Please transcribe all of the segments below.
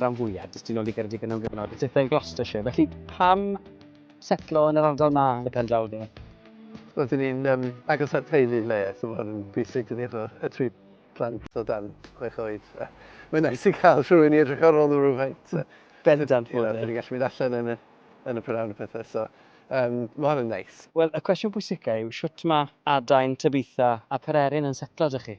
rhan fwyaf, jyst tu ôl i Geredigion am gyfnod, a pethau yn Gloucestershire, felly pam setlo yn yr ardal 'ma yn y pen draw de? Roeddwn i'n um, agos at teulu le, so mae hwn yn bwysig dydi efo y tri plant o dan chwech oed. Mae'n nais i cael rhywun i edrych ar ôl nhw rhywfaint. Bendant bod e. Dyn ni'n gallu mynd allan yn y, yn y prynawn a pethau, so um, mae hwn yn neis. Wel, y cwestiwn pwysicau yw, shwt mae adain, tybiaethau a pererin yn setlo 'da chi?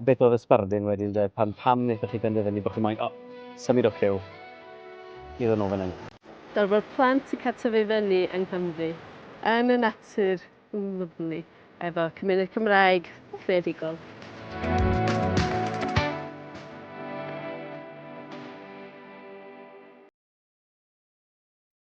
A beth oedd y sbardun wedyn de? Pan, pam wnaethoch chi benderfynu bod chi moyn, o, symud o Cyw i ddod nôl fan hyn? Darfod plant yn cael tyfu fyny yng Nghymru, yn y natur lyfli, efo cymuned Cymraeg creadigol.